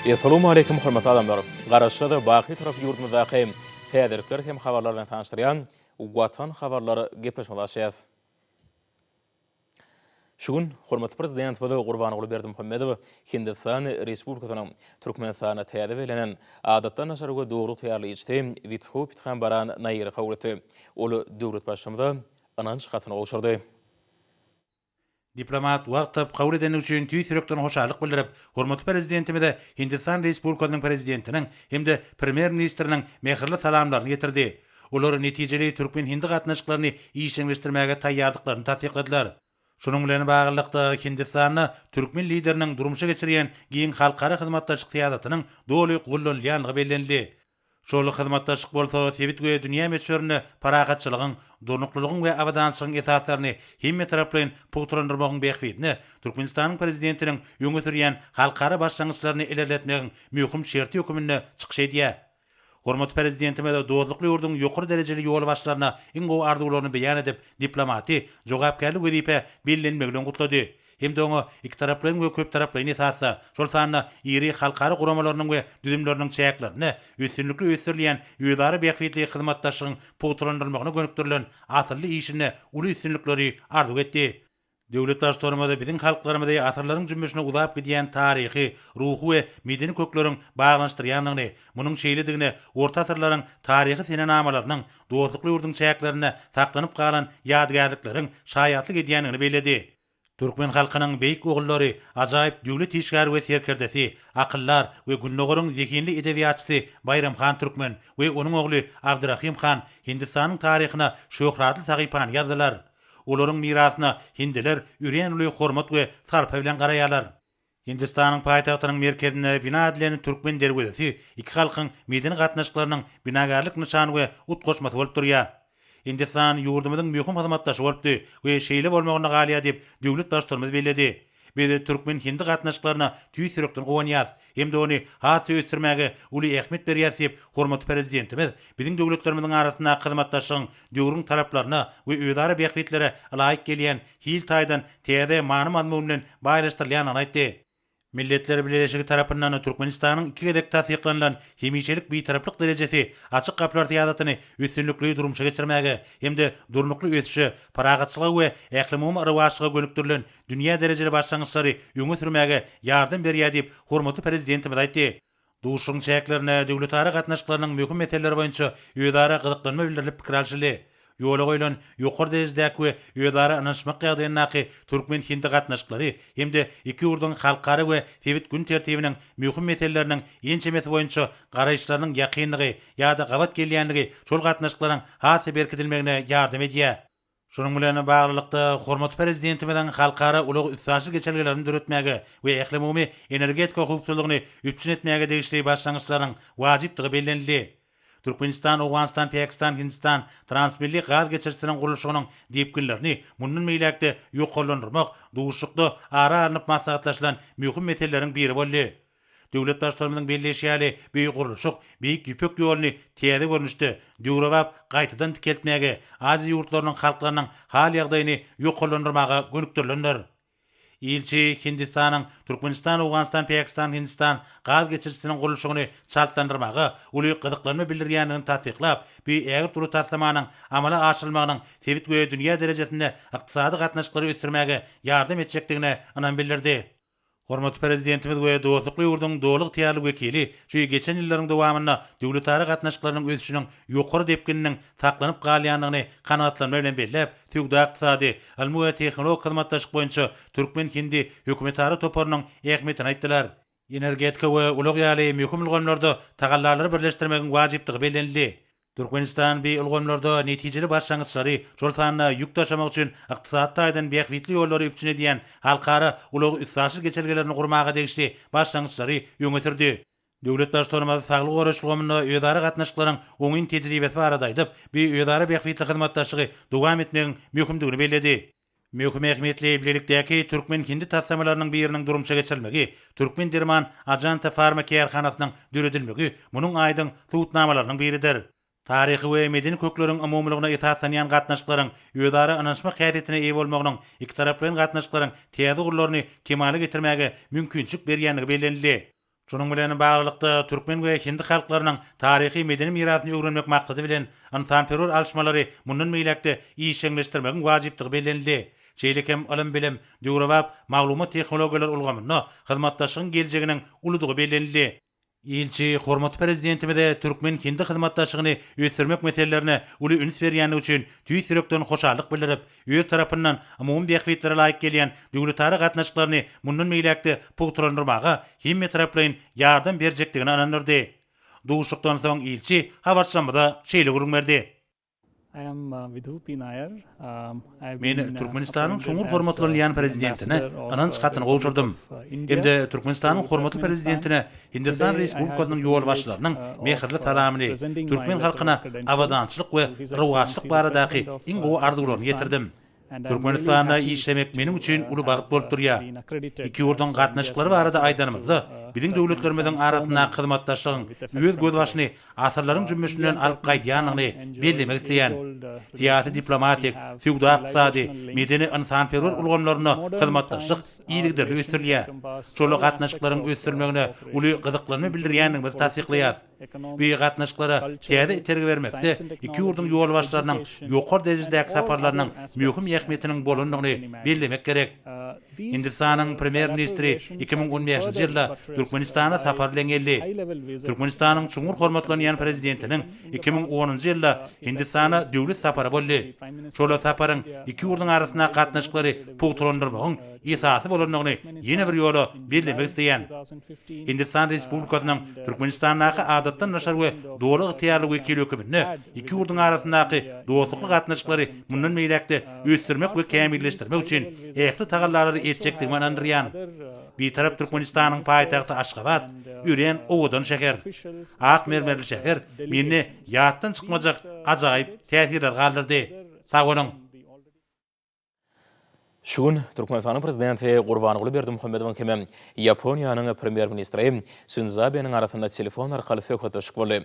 Essalamualeýkum hormatly adamlar! Garaşsyz, baky tarap ýurdumyzdaky täzelikler hem habarlar bilen tanyşdyrýan Watan habarlar gepleşmesi açýas. Şu gün hormatly Prezidentimiz Gurbanguly Berdimuhamedow Hindistan Respublikasynyň Türkmenistana täze bellenen Adatdan daşary we dogry ygtyýarly ilçisi Witho Pithambaran Nairi kabul etdi. Ol döwlet Baştutanyza ynanç hatyny gowşurdy. Diplomat wagt tapyp kabul edendigi üçin tüýs ýürekden hoşallyk bildirip, hormatly Prezidentimize Hindistan Respublikasynyň Prezidentiniň hem-de Premýer-ministriniň mähirli salamlaryny ýetirdi. Olar netijeli türkmen-hindi gatnaşyklaryny işjeňleşdirmäge taýýardyklaryny tassykladylar. Şunuň bilen baglylykda, Hindistanda türkmen Lideriniň durmuşa geçirýän giň halkara hyzmatdaşlyk syýasatynyň doly gollanylýandygy bellenildi. Şol hyzmatdaşlyk bolsa sebit we dünýä möçberinde parahatçylygyň, durnuklylygyň we abadançylygyň esaslaryny hemmetaraplaýyn pugtalandyrmagyň bähbidine Türkmenistanyň Prezidentiniň öňe sürýän halkara başlangyçlaryny ilerletmegiň möhüm şerti höküminde çykyş edýär. Hormatly Prezidentimiz dostlukly ýurduň ýokary derejeli ýolbaşçylaryna iň gowy arzuwlaryny beýan edip, diplomaty jogapkärli wezipä bellenmegi bilen gutlady hem-de oňa ikitaraplaýyn we köptaraplaýyn esasda, şol sanda iri halkara guramalarynyň we düzümleriniň çäklerinde üstünlikli ösdürilýän özara bähbitli hyzmatdaşlygyň pugtalandyrylmagyna gönükdirilen asylly işinde uly üstünlikleri arzuw etdi. Döwlet Baştutanymyz biziň halklarymyzy asyrlaryň jümmüşine uzap gidýän taryhy, ruhy we medeni kökleriň baglanyşdyrýandygyny, munuň şeýledigine orta asyrlaryň taryhy senenamalarynyň dostlukly ýurduň çäklerinde saklanyp galan ýadygärlikleriň şaýatlyk edýändigini belledi. Türkmen halkynyň beýik ogullary, ajaýyp döwlet işgäri we serkerdesi, akyldar we Gündogaryň zehinli edebiýatçysy Baýram han Türkmen we onuň ogly Abdyrahym han Hindistanyň taryhyna şöhratly sahypany ýazdylar. Olaryň mirasyna hindiler örän uly hormat we sarpa bilen garaýarlar. Hindistanyň paýtagtynyň merkezinde bina edilen Türkmen derwezesi iki halkyň medeni gatnaşyklarynyň binagärlik nyşany we utgaşmasy bolup durýar. Hindistan ýurdumyzyň möhüm hyzmatdaşy bolupdy we şeýle bolmagynda galýar diýip, döwlet Baştutanymyz belledi. Biz türkmen-hindi gatnaşyklaryna tüýs ýürekden guwanýarys hem-de ony has-da ösdürmäge uly ähmiýet berýäris diýip, hormatly Prezidentimiz biziň döwletlerimiziň arasyndaky hyzmatdaşlygyň döwrüň talaplaryna we özara bähbitlere laýyk gelýän hil taýdan täze many-mazmun bilen baýlaşdyrylýandygyny aýtdy. Milletler Bileleşigi tarapyndan Türkmenistanyň iki gezek tassyklanylan Hemişelik Bitaraplyk derejesi Açyk gapylar syýasatyny üstünlikli durmuşa geçirmäge hem-de durnukly ösüşe, parahatçylyga we ählumumy rowaçlyga gönükdirilen dünýä derejeli başlangyçlary öňe sürmäge ýardam berýär diýip, hormatly Prezidentimiz aýtdy. Duşuşygyň çäklerinde döwletara gatnaşyklarynyň möhüm meseleleri boýunça özara gyzyklanma bildirilip pikir alşyldy. Ýola goýlan ýokary derejedäki we özara ynanyşmak ýagdaýyndaky türkmen-hindi gatnaşyklary hem-de iki ýurduň halkara we sebit gün tertibiniň möhüm meseleleriniň ençemesi boýunça garaýyşlarynyň ýakyndygy ýa-da gabat gelýänligi şol gatnaşyklaryň has-da berkidilmegine ýardam edýär. Şunuň bilen baglylykda, hormatly Prezidentimiziň halkara ulag-üstaşyr geçelgelerini döretmäge we ählumumy energetika howpsuzlygyny üpjün etmäge degişli başlangyçlarynyň wajypdygy bellenildi. Türkmenistan, Owganystan, Pakistan, Hindistan transmilli gaz geçirijisiniň gurluşygynyň depginlerini mundan beýläk-de ýokarlandyrmak duşuşykda ara alnyp maslahatlaşylan möhüm meseleleriň biri boldy. Döwlet Baştutanymyzyň belleýşi ýaly, bu gurluşyk Beýik Ýüpek ýoluny täze görnüşde, döwrebap gaýtadan dikeltmäge, Aziýa ýurtlarynyň halklarynyň hal-ýagdaýyny ýokarlandyrmaga gönükdirilendir. Ilçi Hindistanyň Türkmenistan-Owganystan-Pakistan-Hindistan gaz geçirijisiniň gurluşygyny çaltlandyrmaga uly gyzyklanma bildirýändigini tassyklap, bu ägirt uly taslamanyň amala aşyrylmagynyň sebit we dünýä derejesinde ykdysady gatnaşyklary ösdürmäge ýardam etjekdigine ynam bildirdi. Hormatly Prezidentimiz we dostlukly ýurduň doly ygtyýarly wekili şu geçen ýyllaryň dowamynda döwletara gatnaşyklarynyň ösüşiniň ýokary depgininiň saklanyp galýandygyny kanagatlanma bilen belläp, söwda-ykdysady, ylmy we tehnologik hyzmatdaşlyk boýunça türkmen-hindi hökümetara toparynyň ähmiýetini aýtdylar. Energetika we ulag ýaly möhüm ulgamlarda tagallalary birleşdirmegiň wajypdygy bellenildi. Türkmenistan bi ulgamlarda netijeli başlangyçlary, şol sanda ýük daşamak üçin ykdysady taýdan bähbitli ýollary üpjün edýän halkara ulag-üstaşyr geçelgelerini gurmaga degişli başlangyçlary öňe sürdi. Döwlet Baştutanymyz saglygy goraýyş ulgamynda özara gatnaşyklaryň oňyn tejribesi barada aýdyp, bi özara bähbitli hyzmatdaşlygy dowam etmegiň möhümdigini belledi. Möhüm ähmiýetli bilelikdäki türkmen-hindi taslamalarynyň biriniň durmuşa geçirilmegi, Türkmen derman Ajanta Farma kärhanasynyň döredilmegi munuň aýdyň subutnamalarynyň biridir. Taryhy we medeni kökleriň umumylygyna esaslanýan gatnaşyklaryň özara ynanyşmak häsiýetine eýe bolmagynyň ikitaraplaýyn gatnaşyklaryň täze ugurlaryny kemala getirmäge mümkinçilik berýändigi bellenildi. Şunuň bilen baglylykda, türkmen we hindi halklarynyň taryhy-medeni mirasyny öwrenmek maksady bilen, ynsanperwer alyşmalary mundan beýläk-de işjeňleşdirmegiň wajypdygy bellenildi. Şeýle hem ylym-bilim, döwrebap maglumat-tehnologiýalar ulgamynda hyzmatdaşlygyň geljeginiň uludygy bellenildi. Ilçi hormatly Prezidentimize türkmen-hindi hyzmatdaşlygyny ösdürmek meselelerine uly üns berýändigi üçin tüýs ýürekden hoşallyk bildirip, öz tarapyndan umumy bähbitlere laýyk gelýän döwletara gatnaşyklaryny mundan beýläk-de pugtalandyrmaga hemmetaraplaýyn ýardam berjekdigine ynandyrdy. Duşuşykdan soň ilçi habarçymyza şeýle gürrüň berdi. Men Türkmenistanyň çuňňur hormatlanylýan Prezidentine ynanç hatyny gowşurdym hem-de Türkmenistanyň hormatly Prezidentine Hindistan Respublikasynyň ýolbaşçylarynyň mähirli salamyny, türkmen halkyna abadançylyk we rowaçlyk baradaky iň gowy arzuwlarymy ýetirdim. Türkmenistanda işlemek meniň üçin uly bagt bolup durýar. Iki ýurduň gatnaşyklary barada aýdanymyzda, biziň döwletlerimiziň arasyndaky hyzmatdaşlygyň öz gözbaşyny asyrlaryň jümmüşinden alyp gaýdýandygyny bellemek isleýän. Syýasy-diplomatik, söwda-ykdysady, medeni-ynsanperwer ulgamlarynda hyzmatdaşlyk yzygiderli ösdürilýär. Şol gatnaşyklaryň ösdürilmegine uly gyzyklanma bildirýändigimizi tassyklaýarys we gatnaşyklara täze itergi bermekde iki ýurduň ýolbaşçylarynyň ýokary derejedäki saparlarynyň möhüm ähmiýetiniň bolandygyny bellemek gerek. Hindistanyň Premýer-ministri iki müň on bäşinji ýylda Türkmenistana sapar bilen geldi. Türkmenistanyň çuňňur hormatlanýan Prezidentiniň iki müň onunjy ýylda Hindistana döwlet sapary boldy. Şol saparyň iki ýurduň arasyndaky gatnaşyklary pugtalandyrmagyň esasy bolandygyny ýene bir ýola bellemek isleýän. Hindistan Respublikasynyň Türkmenistandaky Adatdan daşary we Doly ygtyýarly wekili höküminde iki ýurduň arasyndaky dostlukly gatnaşyklary mundan beýläk-de ösdürmek we kämilleşdirmek üçin ähli tagallalary etjekdigime ynandyrýan Bitarap Türkmenistanyň paýtagty Aşgabat örän owadan şäher. Ak mermerli şäher mende ýatdan çykmajak ajaýyp täsirler galdyrdy. Sag boluň! Şu gün Türkmenistanyň Prezidenti Gurbanguly Berdimuhamedowyň hem Ýaponiýanyň Premýer-ministri Sindzo Abeniň arasynda telefon arkaly söhbetdeşlik boldy.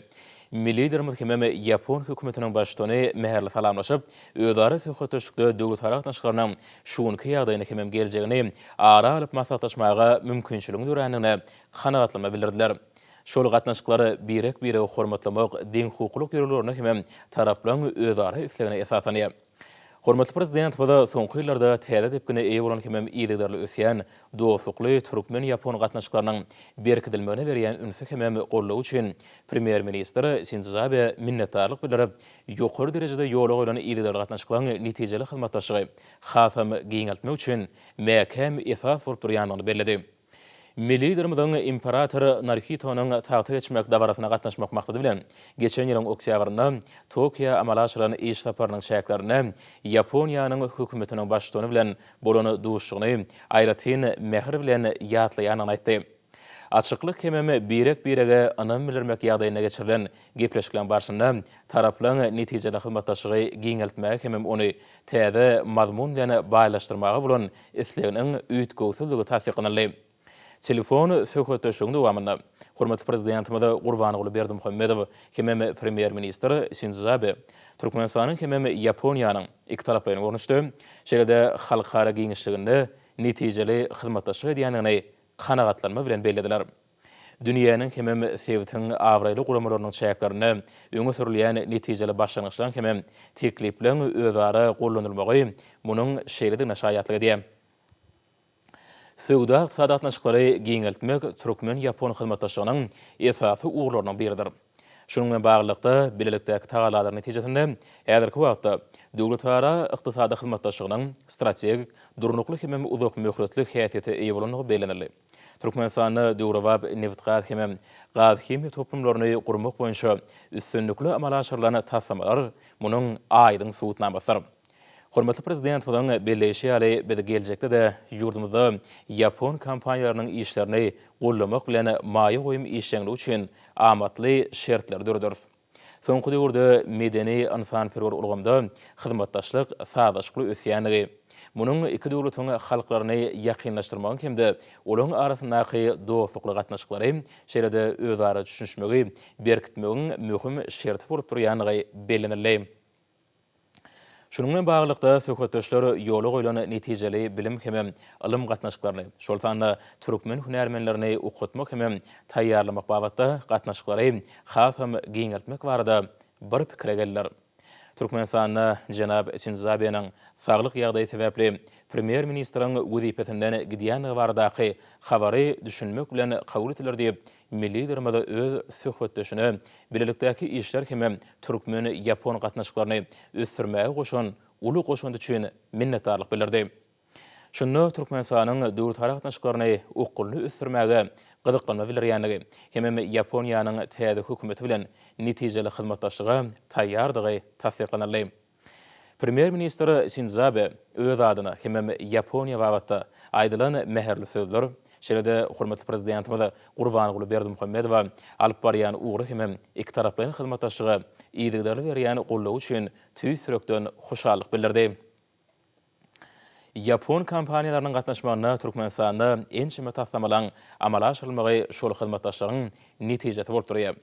Milli Liderimiz hem ýapon hökümetiniň baştutany mähirli salamlaşyp, özara söhbetdeşlikde döwletara gatnaşyklarynyň şu günki ýagdaýyny hemem geljegini ara alyp maslahatlaşmaga mümkinçiligiň dörändigine kanagatlanma bildirdiler. Şol gatnaşyklar birek-biregi hormatlamak, deňhukuklylyk ýörelgelerine hemem taraplaryň özara islegine esaslanýar. Hormatly Prezidentimiz soňky ýyllarda täze depgine eýe bolan hemem yzygiderli ösýän dostlukly türkmen-ýapon gatnaşyklarynyň berkidilmegine berýän ünsi hemem goldawy üçin Premýer-ministr Sindzio Abe minnetdarlyk bildirip, ýokary derejede ýola goýlan yzygiderli gatnaşyklaryň netijeli hyzmatdaşlygy hasam giňeltmek üçin mäkäm esas bolup durýandygyny belledi. Milli Liderimiziň imperator Naruhitonyň tagta geçmek dabarasyna gatnaşmak maksady bilen, geçen ýylyň oktýabrynda Tokioa amala aşyran iş saparynyň çäklerinde Ýaponiýanyň Hökümetiniň Baştutany bilen bolan duşuşygyny aýratyn mähir bilen ýatlaýandygyny aýtdy. Açyklyk hemem birek-birege ynam bildirmek ýagdaýynda geçirilen gepleşikleriň barşynda taraplaryň netijeli hyzmatdaşlygy giňeltmäge hemem ony täze mazmun bilen baýlaşdyrmaga bolan isleginiň üýtgewsizdigi tassyklanyldy. Telefon söhbetdeşligiň dowamynda hormatly Prezidentimiz Gurbanguly Berdimuhamedow hemem Premýer-ministr Sindzo Abe Türkmenistanyň hemem Ýaponiýanyň ikitaraplaýyn görnüşde, şeýle-de halkara giňişliginde netijeli hyzmatdaşlyk edýändigini kanagatlanma bilen bellediler. Dünýäniň hemem sebitiň abraýly guramalarynyň çäklerinde öňe sürülýän netijeli başlangyçlaryň hemem teklipleriň özara gollanylmagy munuň şeýledigine şaýatlyk edýär. Söwda-ykdysady gatnaşyklary giňeltmek türkmen-ýapon hyzmatdaşlygynyň esasy ugurlarynyň biridir. Şunuň bilen baglylykda, bilelikdäki tagallalaryň netijesinde häzirki wagtda döwletara ykdysady hyzmatdaşlygynyň strategik, durnukly hemem uzakmöhletli häsiýete eýe bolandygy bellenildi. Türkmenistanda döwrebap nebitgaz hemem gazhimiýa toplumlaryny gurmak boýunça üstünlikli amala aşyrylan taslamalar munuň aýdyň subutnamasydyr. Hormatly Prezidentimiziň belleýşi ýaly, biz geljekde-de ýurdumyzda ýapon kompaniýalarynyň işlerini goldamak bilen maýa goýum işjeňligi üçin amatly şertleri döreders. Soňky döwürde medeni-ynsanperwer ulgamda hyzmatdaşlyk sazlaşykly ösýändigi, munuň iki döwletiň halklaryny ýakynlaşdyrmagyň hem-de olaryň arasyndaky dostlukly gatnaşyklary, şeýle-de özara düşünişmegi berkitmegiň möhüm şerti bolup durýandygy bellenildi. Şunuň bilen baglylykda, söhbetdeşler ýola goýlan netijeli bilim hemem ylym gatnaşyklaryny, şol sanda türkmen hünärmenlerini okatmak hemem taýýarlamak babatda gatnaşyklary hasam giňeltmek barada bir pikire geldiler. Türkmenistanda jenap Sindzabeniň saglyk ýagdaýy sebäpli premýer-ministriň wezipesinden gidýändigi baradaky habary düşünmek bilen kabul etdiler diýip, Milli Liderimiz öz söhbetdeşine bilelikdäki işler hem-ä türkmen-ýapon gatnaşyklaryny ösdürmäge goşan uly goşandy üçin minnetdarlyk bildirdi. Şunda Türkmenistanyň döwletara gatnaşyklaryny okgunly ösdürmäge gyzyklanma bildirýändigi hemem Ýaponiýanyň täze hökümeti bilen netijeli hyzmatdaşlyga taýýardygy tassyklanyldy. Premýer-ministr Sindzo Abe öz adyna hemem Ýaponiýa babatda aýdylan mähirli sözler, şeýle-de hormatly Prezidentimiz Gurbanguly Berdimuhamedowa alyp barýan ugry hemem ikitaraplaýyn hyzmatdaşlyga yzygiderli berýän goldawy üçin tüýs ýürekden hoşallyk bildirdi. Ýapon kompaniýalarynyň gatnaşmagynda Türkmenistanda ençeme taslamalaryň amala aşyrylmagy şol hyzmatdaşlygyň netijesi bolup durýar.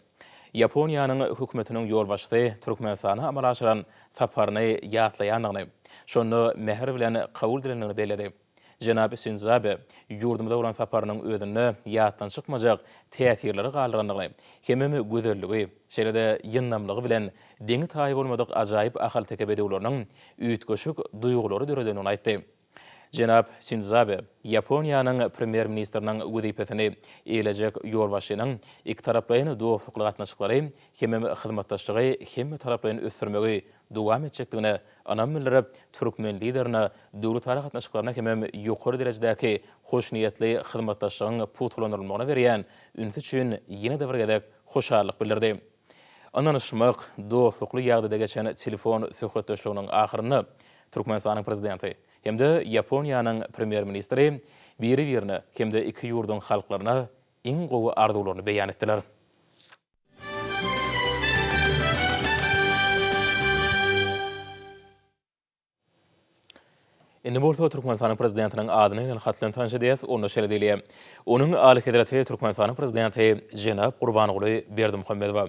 Ýaponiýanyň Hökümetiniň ýolbaşçysy Türkmenistana amala aşyran saparyny ýatlaýandygyny, şonda mähir bilen kabul edilendigini belledi. Jenap Sindzo Abe ýurdumyza bolan saparynyň özünde ýatdan çykmajak täsirleri galdyrandygyny, hemem gözelligi, Şeýle-de ýyndamlygy bilen deňi-taýy bolmadyk ajaýyp ahalteke bedewleriniň üýtgeşik duýgulary döredendigini aýtdy. Jenap Sindzabe Ýaponiýanyň Premýer-ministriniň wezipesini eýelejek ýolbaşçynyň ikitaraplaýyn dostlukly gatnaşyklary hemem hyzmatdaşlygy hemmetaraplaýyn ösdürmegi dowam etjekdigine ynam bildirip, türkmen Liderine döwletara gatnaşyklaryna hemem ýokary derejedäki hoşniýetli hyzmatdaşlygyň pugtalandyrylmagyna berýän ünsi üçin ýene-de bir gezek hoşallyk bildirdi. Ynanyşmak, dostlukly ýagdaýda geçen telefon söhbetdeşliginiň ahyrynda Türkmenistanyň Prezidenti hem-de Ýaponiýanyň Premýer-ministri biri-birine hem-de iki ýurduň halklaryna iň gowy arzuwlaryny beýan etdiler. Indi bolsa Türkmenistanyň Prezidentiniň adyny ýazan hat bilen tanyş edýäs, onda şeýle diýilýär, Onuň Alyhezreti Türkmenistanyň Prezidenti jenap Gurbanguly Berdimuhamedowa.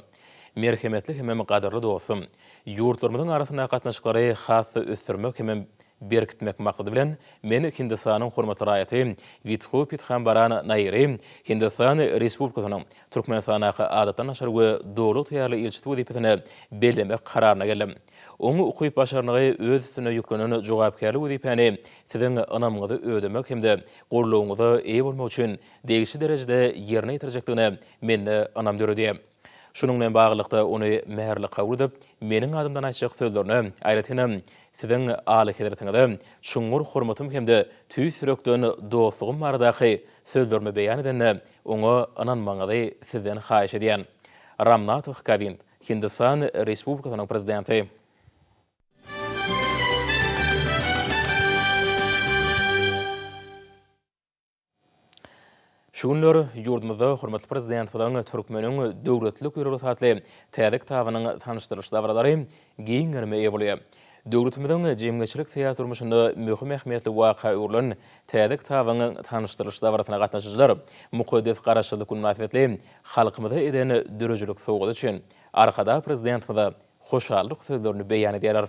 Merhemetli hemem gadyrly dostum! Ýurtlarymyzyň arasyndaky gatnaşyklary has-da ösdürmek hemem berkitmek maksady bilen, men Hindistanyň hormatly raýaty Widhu Pithambaran Nairi Hindistan Respublikasynyň Türkmenistandaky Adatdan daşary we Doly ygtyýarly ilçisi wezipesine bellemek kararyna geldim. Oň ukyp-başarnygy öz üstüne ýüklenen jogapkärli wezipäni siziň ynamyňyzy ödemek hem-de goldawyňyza eýe bolmak üçin degişli derejede ýerine ýetirjekdigine mende ynam döredýär. Şunuň bilen baglylykda ony mähirli kabul edip, meniň adymdan aýtjak sözlerine, aýratynam, Siziň Alyhezretiňize çuňňur hormatym hem-de tüýs ýürekden dostlugym baradaky sözlerimi beýan edende, oňa ynanmagyňyzy sizden haýyş edýän. Ramnatoh Kowind. Hindistan Respublikasynyň Prezidenti. Şu günler ýurdumyzda hormatly Prezidentimiziň Türkmeniň döwletlik ýörelgesi atly täze kitabynyň tanyşdyrylyş dabaralary giň gerime eýe bolýar. Döwletimiziň jemgyýetçilik-syýasy durmuşynda möhüm ähmiýetli waka öwrülen täze kitabyň tanyşdyrylyş dabarasyna gatnaşyjylar Mukaddes Garaşsyzlyk güni mynasybetli halkymyza eden döredijilik sowgady üçin Arkadag Prezidentimize hoşallyk sözlerini beýan edýärler.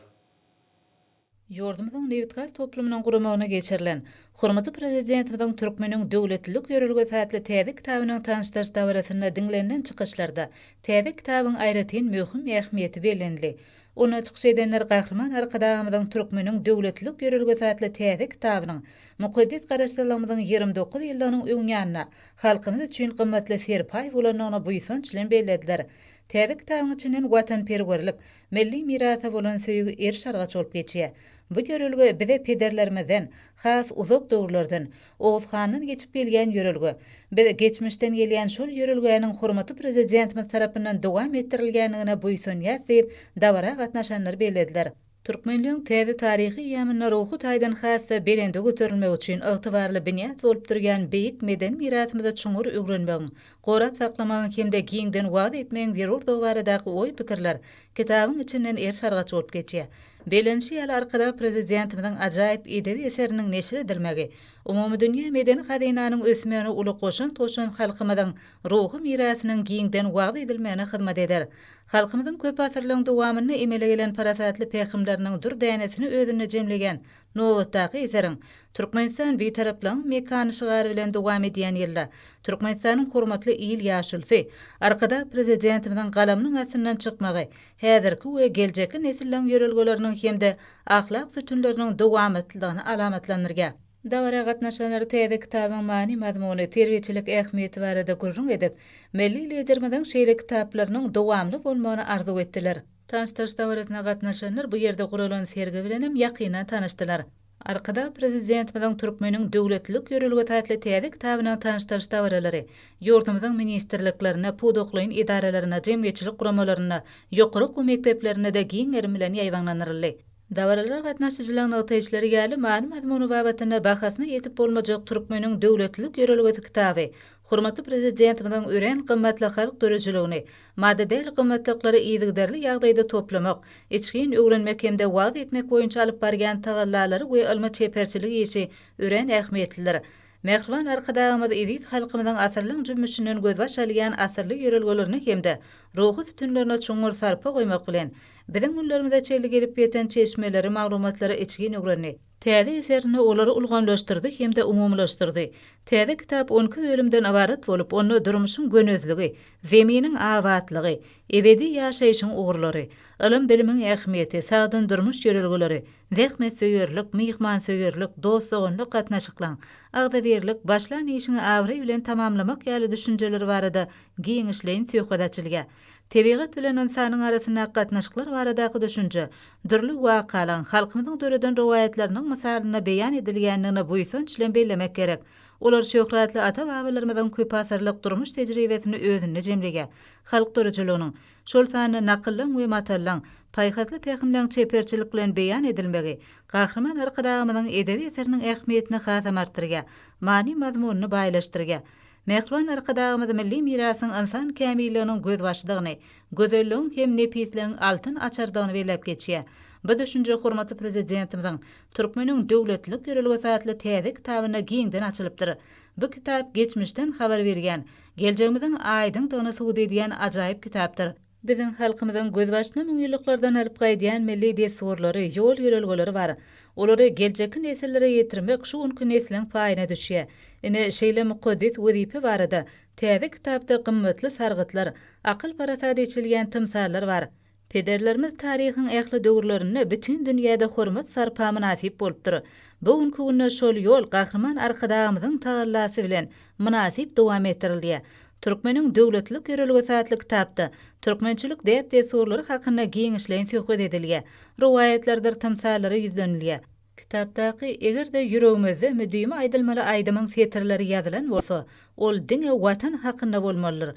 Ýurdumyzyň nebitgaz toplumynyň guramagyna geçirilen, hormatly Prezidentimiziň Türkmeniň döwletlilik ýörelgesi atly täze kitabynyň tanyşdyryş dabarasynda diňlenilen çykyşlarda täze kitabyň aýratyn möhüm ähmiýeti bellenildi. Onda çykyş edenler Gahryman Arkadagymyzyň Türkmeniň döwletlilik ýörelgesi atly täze kitabynyň mukaddes Garaşsyzlygymyzyň ýigrimi dokuz ýyllygynyň öňýanynda halkymyz üçin gymmatly serpaý bolandygyny buýsanç bilen bellediler. Täze kitabyň içinden watanperwerlik, milli mirasa bolan söýgi eriş-argaç bolup geçýär. Bu ýörelge bize pederlerimizden, has uzak döwürlerden, Oguz handan geçip gelýän ýörelge. Biz geçmişden gelýän şol ýörelgäniň hormatly Prezidentimiz tarapyndan dowam etdirilýändigine buýsanýas diýip, dabara gatnaşanlar bellediler. Türkmenligiň täze taryhy eýýamynda ruhy taýdan has-da belende göterilmegi üçin ygtybarly binýat bolup durýan beýik medeni mirasymyzy çuňňur öwrenmegiň, gorap saklamagyň hem-de giňden wagyz etmegiň zerurdygy baradaky oý-pikirler kitabyň içinden erş-argaç bolup geçýär. Bellenişi ýaly, Arkadag Prezidentimiziň ajaýyp edebi eseriniň neşir edilmegi, umumydünýä medeni hazynanyň ösmegine uly goşant goşan halkymyzyň ruhy mirasynyň giňden wagyz edilmegine hyzmat eder. Halkymyzyň köp asyrlaryň dowamynda emele gelen parasatly pähimleriniň dür dänesini özünde jemleýän nobatdaky eseriň Türkmenistan Bitaraplygyň mekany şygary bilen dowam edýän ýylda Türkmenistanyň hormatly il ýaşulysy, Arkadag Prezidentimiziň galamynyň astyndan çykmagy häzirki we geljekki nesilleň ýörelgeleriniň hem-de ahlak sütünleriniň dowamatlylygyny alamatlandyrýar. Dabara gatnaşanlar täze kitabyň many-mazmuny, terbiýeçilik ähmiýeti barada gürrüň edip, milli Liderimiziň şeýle kitaplarynyň dowamly bolmagyny arzuw etdiler. Tanyşdyryş dabarasyna gatnaşanlar bu ýerde guralan sergi bilen hem ýakyndan tanyşdylar. Arkadag Prezidentimiziň Türkmeniň döwletlilik ýörelgesi atly täze kitabynyň tanyşdyryş dabaralary ýurdumyzyň ministrliklerinde, pudaklaýyn edaralarynda, jemgyýetçilik guramalarynda, ýokary okuw mekdeplerinde-de giň gerim bilen ýaýbaňlandyryldy. Dabaralara gatnaşyjylaryň nygtaýyşlary ýaly, many-mazmuny babatynda bahasyna ýetip bolmajak Türkmeniň döwletlilik ýörelgesi kitaby hormatly Prezidentimiziň örän gymmatly halk döredijiligini, maddy däl gymmatlyklary yzygiderli ýagdaýda toplamak, içgin öwrenmek hem-de wagyz etmek boýunça alyp barýan tagallalary we ylmy-çeperçilik işi örän ähmiýetlidir. Mähriban Arkadagymyz eziz halkymyzyň asyrlaň jümmüşinden gözbaş alýan asylly ýörelgelerine hem-de ruhy sütünlerine çuňňur sarpa goýmak bilen, biziň günlerimize çenli gelip ýeten çeşmeleri, maglumatlary içgin öwrendi. Täze eserinde olary ulgamlaşdyrdy hem-de umumylaşdyrdy. Täze kitap on iki bölümden ybarat bolup, onda durmuşyň gönezligi, Zeminiň abatlygy, ebedi ýaşaýşyň ugurlary, ylym-bilimiň ähmiýeti, sagdyn durmuş ýörelgeleri, Zähmetsöýerlik, myhmansöýerlik, dost-doganlyk gatnaşyklaň, agzybirlik, başlan işiňi abraý bilen tamamlamak ýaly düşünjeler barada giňişleýin söhbet açylýar. Tebigat bilen ynsanyň arasyndaky gatnaşyklar baradaky düşünje dürli wakalaň, halkymyzyň döreden rowaýatlarynyň mysalynda beýan edilýändigini buýsanç bilen bellemek gerek. Olar şöhratly ata-babalarymyzyň köpasyrlyk durmuş tejribesini özünde jemleýär, halk duruçylygynyň, şol sanda nakyllaň we matallaň, paýhasly pähimleň çeperçilik bilen beýan edilmegi Gahryman Arkadagymyzyň edebi eseriniň ähmiýetini hasam artdyrýar, many-mazmunyny baýlaşdyrýar. Mähriban Arkadagymyz milli mirasyň ynsan kämilliginiň gözbaşydygyny, gözelligiň hem nepisligiň altyn açarydygyny belläp geçýär. Bu düşünje hormatly Prezidentimiziň Türkmeniň döwletlilik ýörelgesi atly täze kitabynda giňden açylypdyr. Bu kitap geçmişden habar berýän, Geljegimiziň aýdyňdygyny subut edýän ajaýyp kitapdyr. Biziň halkymyzyň gözbaşyny müňýyllyklardan alyp gaýdýan milli dessurlary, ýol-ýörelgeleri bar. Olary geljekki nesillere ýetirmek şu günki nesliň paýyna düşýär. Ine, şeýle mukaddes wezipe barada täze kitapda gymmatly sargytlar, akyl-parasat eçilýän tymsallar bar. Pederlerimiz taryhyň ähli döwürlerinde bütin dünýäde hormat-sarpa mynasyp bolupdyr. Bu günki günde şol ýol Gahryman Arkadagymyzyň tagallasy bilen mynasyp dowam etdirilýär. Türkmeniň döwletlilik ýörelgesi atly kitapda türkmençilik däp-dessurlary hakynda giňişleýin söhbet edilýär, rowaýatlardyr tymsallary ýüzlenilýär. Kitapdaky Eger-de ýüregimizde müdimi aýdylmaly aýdymyň setirleri ýazylan bolsa, ol diňe Watan hakynda bolmalydyr.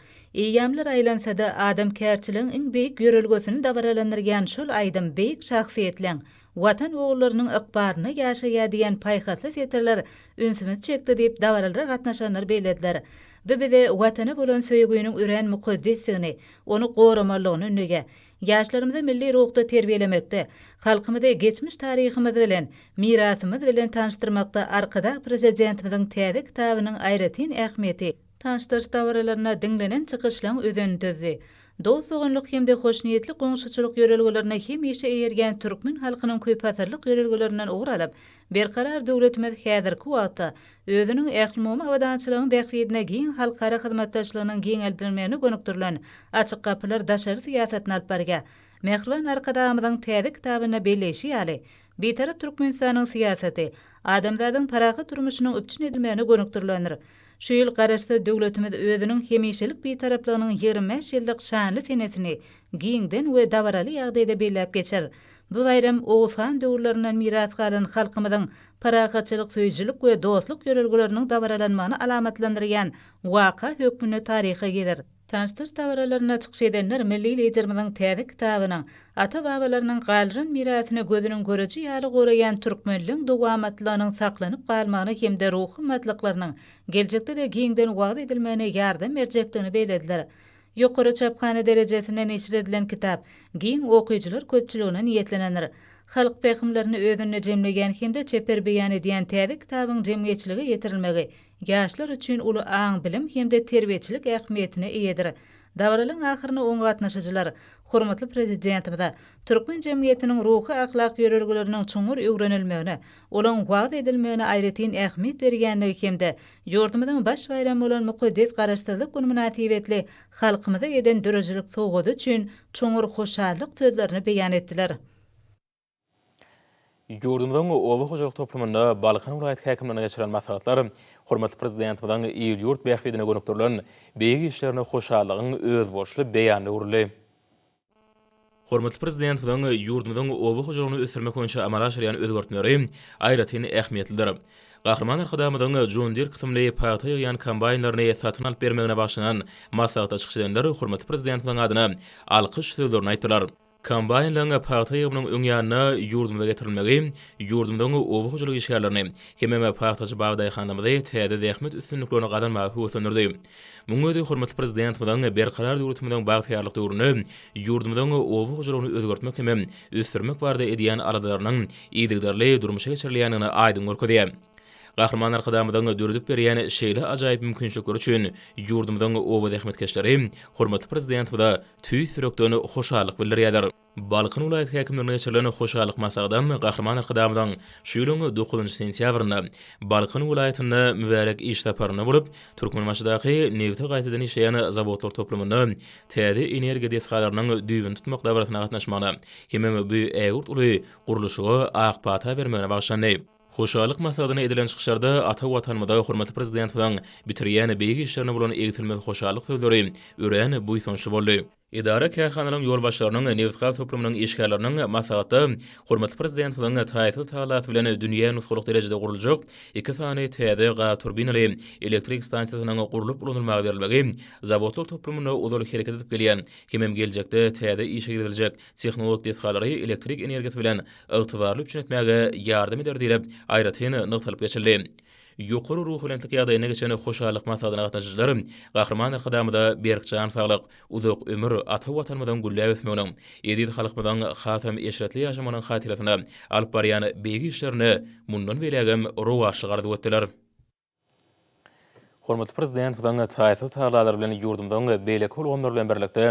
Eýýamlar aýlansa-da, adamkärçiligiň iň beýik ýörelgesini dabaralandyrýan şol aýdym beýik şahsyýetleň, Watan ogullarynyň ykbalyna ýaşaýar diýen paýhasly setirler ünsümizi çekdi diýip, dabaralara gatnaşanlar bellediler. Bu bize Watana bolan söýgüniň örän mukaddesdigini, ony goramalydygyny ündeýär. Ýaşlarymyzy milli ruhda terbiýelemekde, halkymyzy geçmiş taryhymyz bilen, mirasymyz bilen tanyşdyrmakda Arkadag Prezidentimiziň täze kitabynyň aýratyn ähmiýeti, Tanyşdyryş dabaralarynda diňlenen çykyşlaryň özenini düzdi. Dost-doganlyk hem-de hoşniýetli goňşuçylyk ýörelgelerine hemişe eýerýän türkmen halkynyň köpasyrlyk ýörelgelerinden ugur alyp, Berkarar döwletimiz häzirki wagtda özüniň ählumumy abadançylygyň bähbidine giň halkara hyzmatdaşlygynyň giňeldilmegine gönükdirilen Açyk gapylar daşary syýasatyny alyp barýar. Mähriban Arkadagymyzyň täze kitabynda belleýşi ýaly, Bitarap Türkmenistanyň syýasaty adamzadyň parahat durmuşynyň üpjün edilmegine gönükdirilendir. Şu ýyl Garaşsyz döwletimiz özüniň hemişelik Bitaraplygynyň ýigrimi bäş ýyllyk şanly senesini giňden we dabaraly ýagdaýda belläp geçer. Bu baýram Oguz han döwürlerinden miras galan halkymyzyň parahatçylyk söýüjilik we dostluk ýörelgeleriniň dabaralanmagyny alamatlandyrýan waka hökmünde taryha girer. Tanyşdyryş dabaralarynda çykyş edenler milli Liderimiziň täze kitabynyň Ata-babalarynyň galdyran mirasyny gözüniň göreji ýaly goraýan türkmenligiň dowamatlylygynyň saklanyp galmagyna hem-de ruhy gymmatlyklarynyň geljekde-de giňden wagyz edilmegine ýardam berjekdigini bellediler. Ýokary çaphana derejesinde neşir edilen kitap giň okyjylar köpçüligine niýetlenendir. Halk pähimlerini özünde jemleýän hem-de çeper beýan edýän täze kitabyň jemgyýetçilige ýetirilmegi ýaşlar üçin uly aň-bilim hem-de terbiýeçilik ähmiýetine eýedir. Dabaralaryň ahyryna oňa gatnaşyjylar hormatly Prezidentimize türkmen jemgyýetiniň ruhy-ahlak ýörelgeleriniň çuňňur öwrenilmegine, olaň wagyz edilmegine aýratyn ähmiýet berýändigi hem-de Ýurdumyzyň baş baýramy bolan mukaddes Garaşsyzlyk güni mynasybetli halkymyza eden döredijilik sowgady üçin çuňňur hoşallyk sözlerini beýan etdiler. Ýurdumyzyň oba hojalyk toplumynda Balkan welaýat häkimliginde geçirilen maslahatlar hormatly Prezidentimiziň il-ýurt bähbidine gönükdirilen beýik işlerine hoşallygyň özboluşly beýanyna öwrüldi. Hormatly Prezidentimiziň ýurdumyzyň oba hojalygyny ösdürmek boýunça amala aşyrýan özgertmeleri aýratyn ähmiýetlidir. Gahryman Arkadagymyzyň John Deere kysymly pagta ýygýan kombaýnlaryny satyn alyp bermegine bagyşlanan maslahata çykyş edenler hormatly Prezidentimiziň adyna alkyş sözlerini aýtdylar. Kombaýnlaryň pagta ýygymynyň öň ýanyna ýurdumyza getirilmegi ýurdumyzyň oba hojalyk işgärlerini, hemem pagtaçy bagy-daýhanlarymyzy täze zähmet üstünliklerini gazanmaga höweslendirdi. Munuň özi hormatly Prezidentimiziň Berkarar döwletimiziň bagtyýarlyk döwründe ýurdumyzyň oba hojalygyny özgertmek hem ösdürmek barada edýän aladalarynyň yzygiderli durmuşa geçirilýändigini aýdyň görkezýär. Gahryman Arkadagymyzyň döredip berýän şeýle ajaýyp mümkinçilikleri üçin ýurdumyzyň oba zähmetkeşleri hormatly Prezidentimize tüýs ýürekden hoşallyk bildirýärler. Balkan welaýat häkimliginde geçirilen hoşallyk maslahady Gahryman Arkadagymyzyň şu ýylyň dokuzynjy sentýabrynda Balkan welaýatyna mübärek iş saparynda bolup, Türkmenbaşydaky nebiti gaýtadan işleýän zawodlar toplumynda täze energiýa desgalarynyň düýbüni tutmak dabarasyna gatnaşmagyna hemem bu ägirt uly gurluşyga ak pata bermegine bagyşlandy. Hoşallyk maslahatynda edilen çykyşlarda ata Watanymyza hormatly Prezidentimiziň bitirýän beýik işlerine bolan egsilmez hoşallyk sözleri örän buýsançly boldy. Edara-kärhanalaryň ýolbaşçylarynyň, nebitgaz toplumynyň işgärleriniň maslahatda hormatly Prezidentimiziň taýsyz talasy bilen dünýä nusgalyk derejede guruljak iki sany täze gaz turbinaly elektrik stansiýasynyň gurlup ulanylmaga berilmegi zawodlar toplumynda ozal hereket edip gelýän hemem geljekde täze işe giriziljek tehnologik desgalary elektrik energiýasy bilen ygtybarly üpjün etmäge ýardam eder diýlip, aýratyn nygtalyp geçildi. Ýokary ruhubelentlik ýagdaýyna geçen hoşallyk maslahatyna gatnaşyjylar Gahryman Arkadagymyza berk jan saglyk, uzak ömür, ata Watanymyzyň gülläp ösmeginiň, eziz halkymyzyň hasam eşretli ýaşamagynyň hatyrasyna alyp barýan beýik işlerine mundan beýlägem rowaçlyk arzuw etdiler. Hormatly Prezidentimiziň taýsyz tagalary bilen ýurdumyzyň beýleki ulgamlary bilen birlikde,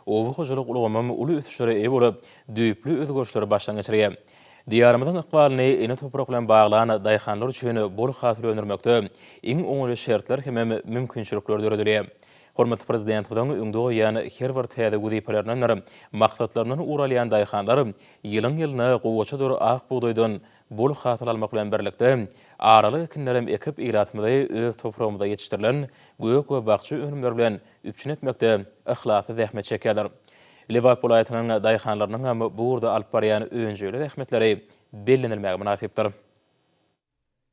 oba hojalyk ulgamym uly ösüşlere eýe bolup, düýpli özgerişleri başdan geçirýär. Diýarymyzyň ykbalyny ene toprak bilen baglan daýhanlar üçin bol hasyl öndürmekde iň oňaýly şertler hemem mümkinçilikler döredilýär. Hormatly Prezidentimiziň öňde goýan her bir täze wezipelerindendir maksatlaryndan ugur alýan daýhanlar ýylyň-ýylyna gowaçadyr ak bugdaýdan bol hasyl almak bilen birlikde, aralyk ekinlerem ekip ilatymyzy öz topragymyzda ýetişdirilen gök we bakja önümleri bilen üpjün etmekde yhlasly zähmet çekýärler. Lebap welaýatynyň daýhanlarynyň hem bu ugurda alyp barýan önjeýli zähmetleri bellenilmäge mynasypdyr.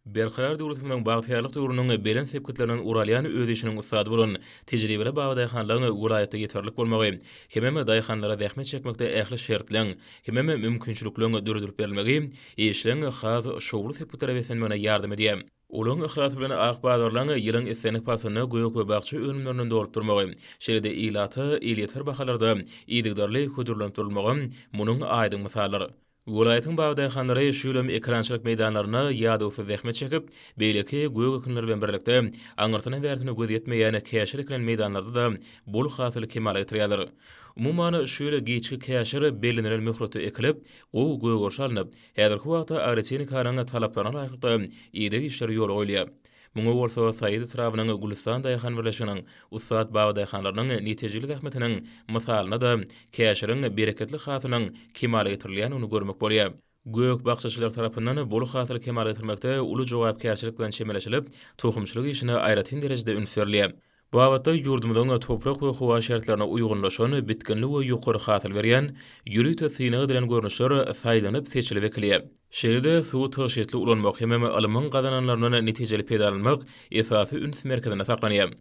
Berkarar döwletimiziň bagtyýarlyk döwrüniň belent sepgitlerinden ugur alýan öz işiniň ussady bolan tejribeli babadaýhanlaryň welaýatda ýeterlik bolmagy hemem daýhanlara zähmet çekmekde ähli şertleň hemem mümkinçilikleň döredilip berilmegi işleň has şowly sepgitlere beslenmegine ýardam edýär. Uly yhlas bilen ak bazarlaryň ýylyň islendik paslynda gök we bakja önümlerinden dolup durmagy, şeýle-de ilata elýeter bahalarda yzygiderli hödürlenip durulmagy munuň aýdyň mysaldyr. Welaýatyň bag daýhanlary şu ýylam ekerançylyk meýdanlarynda ýadawsyz zähmet çekip, beýleki gök ekinler bilen birlikde, aňyrsyna-bärsyna göz ýetmeýän käşir ekilen meýdanlarda-da bol hasyly kemala getirýärler. Umuman, şu ýyl giçki käşir bellenilen möhletde ekilip, gowy gögerişe alnyp, Häzirki wagtda agrotehnikanyň talaplaryna laýyklykda ideg işleri ýola goýulýar. Muňa bolsa Saýat etrabynyň Gülüstan daýhan birleşiginiň ussat babadaýhanlarynyň netijeli zähmetiniň mysalynda-da käşiriň bereketli hasylynyň kemala getirilýändigini görmek bolýar. Gök bakjaçylar tarapyndan bol hasyly kemala getirmekde uly jogapkärçilik bilen çemeleşilip, tohumçylyk işine aýratyn derejede üns berilýär. Babatda ýurdumyzyň toprak we howa şertlerine uýgunlaşan, bitginli we ýokary hasyl berýän, ýörite synag edilen görnüşler saýlanyp, seçilip ekilýär. Şeýle-de, suwy tygşytly ulanmak hemem ylmyň gazananlaryndan netijeli peýdalanmak esasy üns merkezinde saklanýar.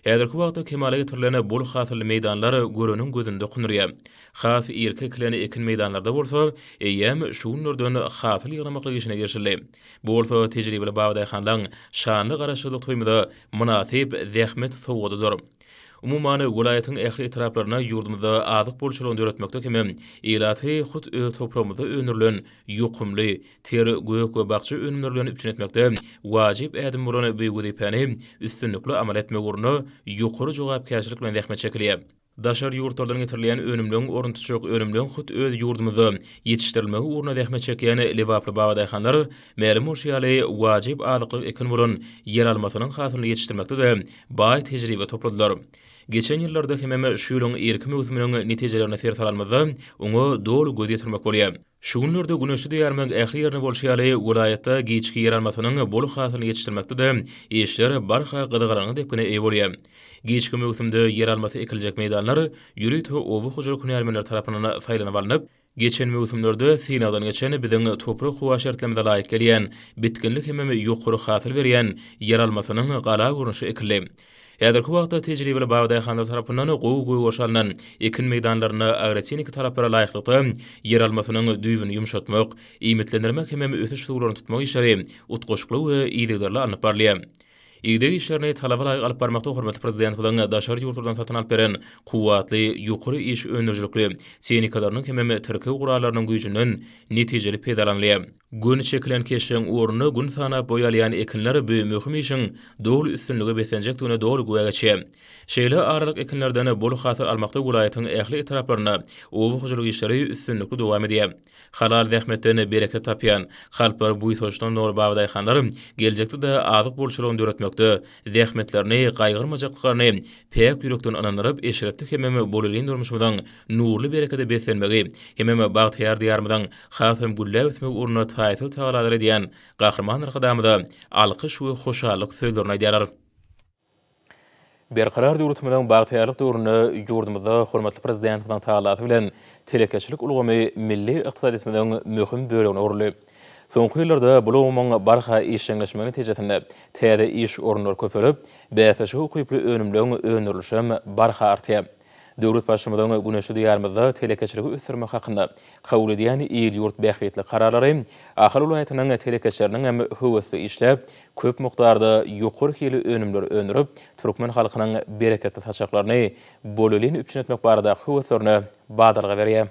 Häzirki wagtda kemala getirilen bol hasylly meýdanlar göreniň gözüni dokundyrýar. Has irki ekilen ekin meýdanlarda bolsa, eýýäm şu günlerden hasyl ýygnamaklyk işine girişildi. Bu bolsa tejribeli babadaýhanlaň şanly Garaşsyzlyk toýumyza mynasyp zähmet sowgadydyr. Umuman, welaýatyň ähli etraplarynda ýurdumyzda azyk bolçulygyny döretmekde hem ilaty hut öz topragymyzda öndürilen ýokumly ter, gök we bakja önümleri bilen üpjün etmekde wajyp ädim bolan bu wezipäni üstünlikli amala etmek ugrunda ýokary jogapkärçilik bilen zähmet çekilýär. Daşary ýurtlardan getirilýän önümleň ornuny tutjak önümleň hut öz ýurdumyzda ýetişdirilmegi ugruna zähmet çekýän lebaply babadaýhanlar, mälim bolşy ýaly, wajyp azyklyk ekini bolan ýeralmasynyň hasylyny ýetişdirmekde-de baý tejribe topladylar. Geçen ýyllarda hemem şu ýylyň irki möwsüminiň netijelerini ser salanymyzda, oňa doly göz ýetirmek bolýar. Şu günlerde güneşli diýarymyň ähli ýerinde bolşy ýaly, welaýatda giçki ýeralmasynyň bol hasylyny ýetişdirmekde-de işler barha gyzgalaňly depgine eýe bolýar. Giçki möwsümde ýeralmasy ekiljek meýdanlar ýörite oba hojalyk hünärmenleri tarapyndan saýlanyp alnyp, geçen möwsümlerde synagdan geçen biziň toprak-howa şertlerimize laýyk gelýän, bitginli hemem ýokary hasyl berýän ýeralmasynyň gala görnüşi ekildi. Häzirki wagtda tejribeli bagdaýhanlar tarapyndan gowy gögeriş alnan ekin meýdanlarynda agrotehniki talaplara laýyklykda ýeralmasynyň düýbüni ýumşatmak, iýmitlendirmek hemem ösüş suwlaryny tutmak işleri utgaşykly we yzygiderli alnyp barylýar. Ideg işlerini talaba laýyk alyp barmakda hormatly Prezidentimiziň daşary ýurtlardan satyn alyp beren kuwwatly, ýokary iş öndürijilikli tehnikalarynyň hemem tirkeg gurallarynyň güýjünden netijeli peýdalanylýar. Gün çekilen keşbiň ugruna gün sanap boý alýan ekinler bu möhüm işiň doly üstünlige beslenjekdigine doly güwä geçýä. Şeýle aralyk ekinlerden bol hasyl almakda welaýatyň ähli etraplarynda oba hojalyk işleri üstünlikli dowam edýä. Halal zähmetden bereket tapýan, kalplary buýsançdan doly babadaýhanlar geljekde-de azyk bolçulygyny döretmekde zähmetlerini gaýgyrmajakdyklaryny päk ýürekden ynandyryp, eşretli hemem bolelin durmuşymyzyň nurly berekede beslenmegi hemem bagtyýar Diýarymyzyň Has hem gülläp ösmek ugrunda taýsyz tagalalar edýän Gahryman Arkadagymyza alkyş we hoşallyk sözlerini aýdýarlar. Berkarar döwletimiziň bagtyýarlyk döwründe ýurdumyzda hormatly Prezidentimiziň tagallasy bilen telekeçilik ulgamy milli ykdysadyýetimiziň möhüm bölegine öwrüldi. Soňky ýyllarda bu ulgamyň barha işjeňleşmegi netijesinde täze iş orunlary köpelip, bäsleşige ukyply önümleň öndürilişem barha artýar. Döwlet Başymyzyň güneşli Diýarymyzda telekeçiligi ösdürmek hakynda kabul edýän il-ýurt bähbitli kararlary Ahal welaýatynyň telekeçileriniň hem höwesli işläp, köp mukdarda ýokary hilli önümleri öndürip, türkmen halkynyň bereketli saçaklaryny bolelin üpjün etmek baradaky höweslerine badalga berýär.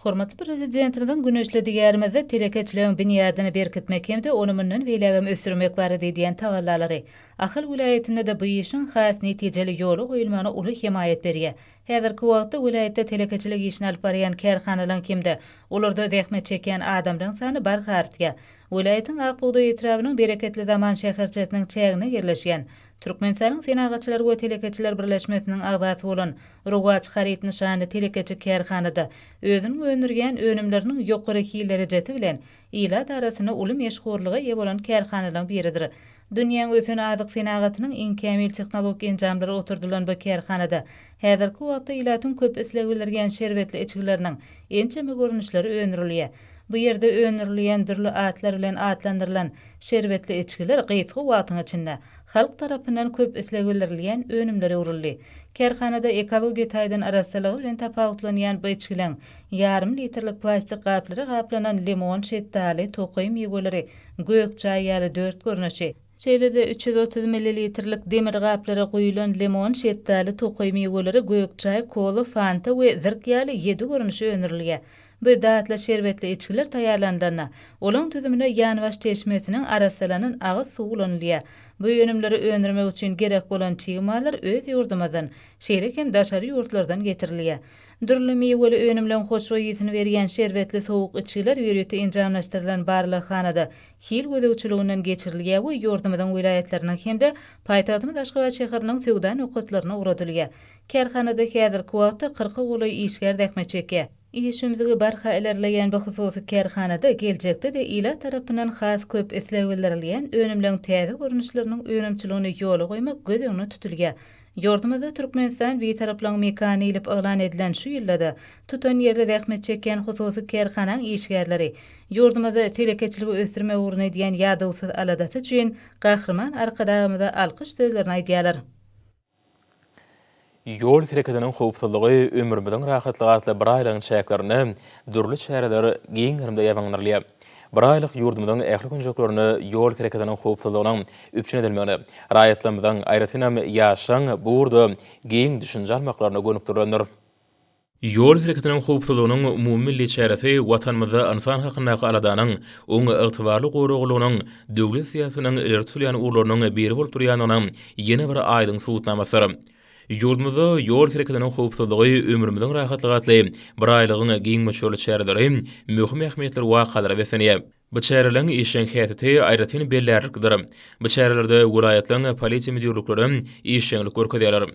Hormatly Prezidentimiziň güneşli Diýarymyzda telekeçiligiň binýadyny berkitmek hem-de ony mundan beýlägem ösdürmek barada edýän tagallalary Ahal welaýatynda-da bu işiň has netijeli ýola goýulmagyna uly hemaýat berýär. Häzirki wagtda welaýatda telekeçilik işini alyp barýan kärhanalaryň hem-de olarda zähmet çekýän adamlaryň sany barha artýar. Welaýatyň Ak bugdaý etrabynyň Bereketli zaman şäherçesiniň çäginde ýerleşýän Türkmenistanyň Senagatçylar we telekeçiler birleşmesiniň agzasy bolan Rowaç haryt nyşanly telekeçi kärhanada özüniň öndürýän önümleriniň ýokary hil derejesi bilen ilat arasynda uly meşhurlyga eýe bolan kärhanalaryň biridir. Dünýäň ösen azyk senagatynyň iň kämil tehnologik enjamlary oturdylan bu kärhanada häzirki wagtda ilatyň köp islegi bildirýän şerbetli içgileriniň ençeme görnüşleri öndürilýär. Bu ýerde öndürilýän dürli atlar bilen atlandyrylan şerbetli içgiler gysga wagtyň içinde halk tarapyndan köp isleg bildirilýän önümlere öwrüldi. Kärhanada ekologiýa taýdan arassalygy bilen tapawutlanýan bu içgileň ýarym litrlik plastik gaplara gaplanan limon, şetdaly, tokaý miweleri, gök çaý ýaly dört görnüşi, Şeýle-de üç ýüz otuz millilitrlik demir gaplara guýulan limon, şetdaly, tokaý miweleri, gök çaý, kola, fanta we zirk ýaly ýedi görnüşi öndürilýär. Bu datly şerbetli içgiler taýýarlanylanda, olaň düzümine ýanbaş çeşmesiniň arassalanan agyz suwy ulanylýar. Bu önümleri öndürmek üçin gerek bolan çig mallar öz ýurdumyzdan, şeýle hem daşary ýurtlardan getirilýär. Dürli miweli önümleň hoşboý ysy berýän şerbetli sowuk içgiler ýörite enjamlaşdyrylan barlaghanada hil gözegçiliginden geçirilýär we ýurdumyzyň welaýatlarynyň hem-de paýtagtymyz Aşgabat şäheriniň söwda nokatlaryna ugradylýar. Kärhanada häzirki wagtda kyrka golaý işgär zähmet çekýär. Iş ümzügi barha ilerleýän bu hususy kärhanada geljekde-de ilat tarapyndan has köp isleg bildirilýän önümleň täze görnüşleriniň önümçiligini ýola goýmak göz öňüne tutulýar. Ýurdumyzda Türkmenistan Bitaraplygyň mekany diýlip yglan edilen şu ýylda-da tutan ýerli zähmet çekýän hususy kärhanaň işgärleri ýurdumyzda telekeçiligi ösdürmek ugrunda edýän ýadawsyz aladasy üçin Gahryman Arkadagymyza alkyş sözlerini aýdýarlar. Ýol hereketiniň howpsuzlygy, ömrümiziň rahatlygy atly biraýlygyň çäklerinde dürli çäreler giň gerimde ýaýbaňlandyrylýar. Bir aýlyk ýurdumyzyň ähli künjeklerinde ýol hereketiniň howpsuzlygynyň üpjün edilmegine, raýatlarymyzyň, aýratynam, ýaşlaryň bu ugurda giň düşünje almaklaryna gönükdirilendir. Ýol hereketiniň howpsuzlygynyň umumymilli çäresi Watanymyzda ynsan hakyndaky aladanyň, oň ygtybarly goraglylygynyň döwlet syýasatynyň ileri tutulýan ugurlarynyň biri bolup durýandygynyň ýene bir aýdyň subutnamasydyr. Ýurdumyzda ýol hereketiniň howpsuzlygy, ömrümiziň rahatlygy atly biraýlygyň giň möçberli çäreleri möhüm ähmiýetli wakalara beslenýär. Bu çäreleriň işjeň häsiýeti aýratyn bellärliklidir. Bu çärelerde welaýatlaryň polisiýa müdirlikleri hem işjeňlik görkezýärler.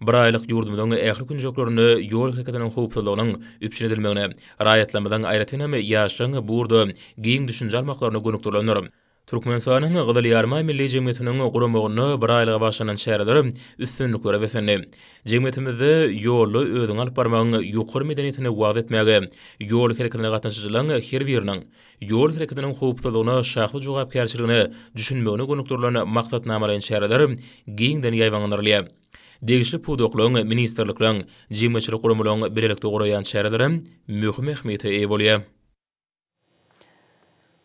Bir aýlyk ýurdumyzyň ähli künjeklerinde ýol hereketiniň howpsuzlygynyň üpjün edilmegine, raýatlarymyzyň, aýratynam, ýaşlaryň bu ugurda giň düşünje almaklaryna gönükdirilendir. Türkmenistanyň Gyzyl Ýarymaý Milli Jemgyýetiniň guramagynda bir aýlyga başlanan çäreler üstünliklere beslendi. Jemgyýetimizde ýolda özüňi alyp barmagyň ýokary medeniýetini wagyz etmäge, ýol hereketine gatnaşyjylaryň her biriniň ýol hereketiniň howpsuzlygyna, şahsy jogapkärçiligine düşünmegine gönükdirilen maksatnamalaýyn çäreler giňden ýaýbaňlandyrylýar. Degişli pudaklaryň, ministrlikleriň, jemgyýetçilik guramalaryň bilelikde guraýan çärelerem möhüm ähmiýete eýe bolýar.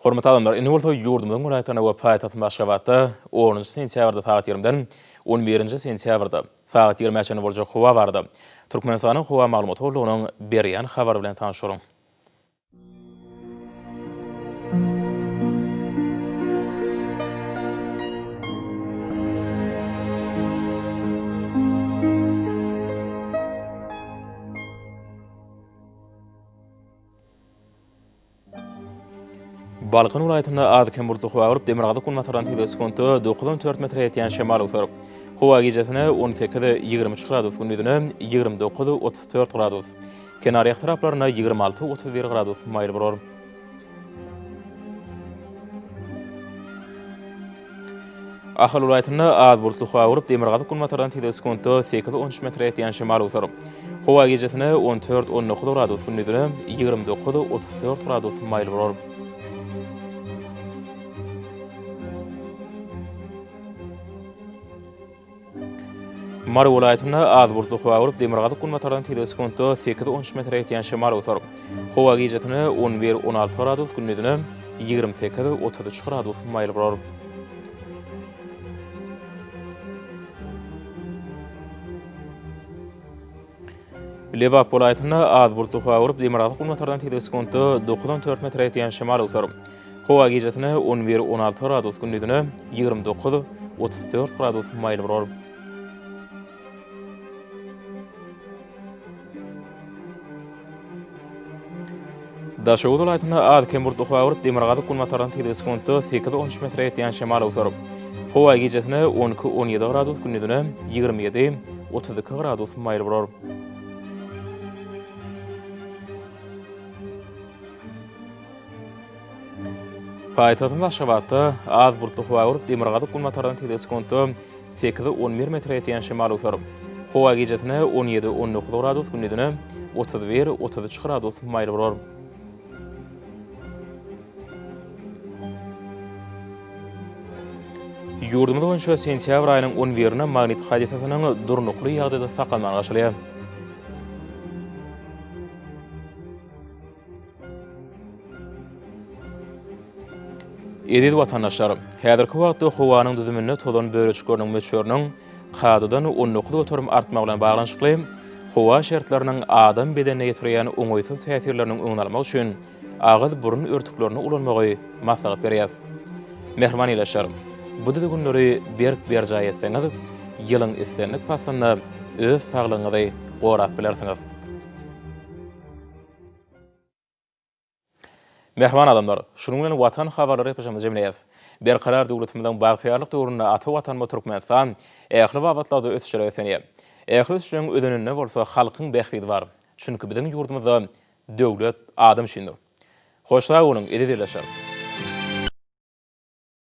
Hormatly adamlar, indi bolsa ýurdumyzyň welaýatlaryna we paýtagtymyz Aşgabatda onunjy sentýabrda sagat ýigriminden on birinji sentýabrda sagat ýigrime çenli boljak howa barada Türkmenistanyň Howa maglumat gullugynyň berýän habary bilen tanyşalyň. Balkan welaýatynda az-kem bulutly howa bolup, demirgazyk-günbatardan tizligi sekuntda dokuz on dört metre ýetýän şemal öwser. Howa gijesine on sekiz, ýigrimi üç gradus, gündizine ýigrimi dokuz, otuz dört gradus. Kenarýak taraplarynda ýigrimi alty, otuz bir gradus maýyl bolar. Ahal welaýatynda az bulutly howa bolup, demirgazyk-günbatardan tizligi sekuntda sekiz-on üç metre ýetýän şemal öwser. Howa gijesine on dört-on dokuz gradus, gündizine ýigrimi dokuz-otuz dört gradus maýyl bolar. Mary welaýatynda az bulutly howa bolup, demirgazyk-günbatardan tizligi sekuntda sekiz, on üç metre ýetýän şemal oýtar. Howa gijesine on bir, on alty gradus, gündizine ýigrimi sekiz, otuz üç gradus maýyl bolar. Lebap welaýatynda az bulutly howa gurup, demirgazyk günbatardan tizligi sekuntda dokuz on dört metre ýetýän şemal öwser. Howa gijesine on bir on alty gradus, gündizine ýigrimi dokuz otuz dört gradus maýyl bolar. Daşoguz welaýatynda az-kem burt howa urup, demirgazyk-günbatardan tizligi sekuntda sekiz on üç metre ýetýän şemal öwser. Howa gijesine on iki on ýedi gradus, gündizine ýigrimi ýedi otuz iki gradus maýyl bolar. Paýtagtymyz Aşgabatda az bulutly howa urup, demirgazyk-günbatardan tizligi sekuntda Sekiz, on bir metre etýän şemal öser. Howa gijesine on ýedi, on dokuz gradus, gündizine otuz bir, otuz üç gradus maýyl bolar. Ýurdumyz boýunça sentýabr aýynyň on birine magnit hadysasynyň durnukly ýagdaýda saklanmagy garaşylýar. Eziz watandaşlar! Häzirki wagtda howanyň düzüminde tozan bölejikleriniň möçberiniň kadadan on dokuz göterim artmagy bilen baglanyşykly, howa şertleriniň adam bedenine ýetirýän oňaýsyz täsirleriniň öňüni almak üçin agyz-burun örtüklerini ulanmagy maslahat berýäs. Mähriban ildeşler! Bu düzgünleri berk berjaý etseňiz, ýylyň islendik paslynda öz saglygyňyzy gorap bilersiňiz. Mähriban adamlar, şunuň bilen Watan habarlary epizomyny jemleýäs. Berkarar döwletimiziň bagtyýarlyk döwründe ata Watanymyz Türkmenistan ähli babatlarda ösüşlere beslenýär. Ähli ösüşleriň özeninde bolsa halkyň bähbidi bar. Çünki biziň ýurdumyzda döwlet adam üçindir. Hoş sag boluň, eziz ildeşler!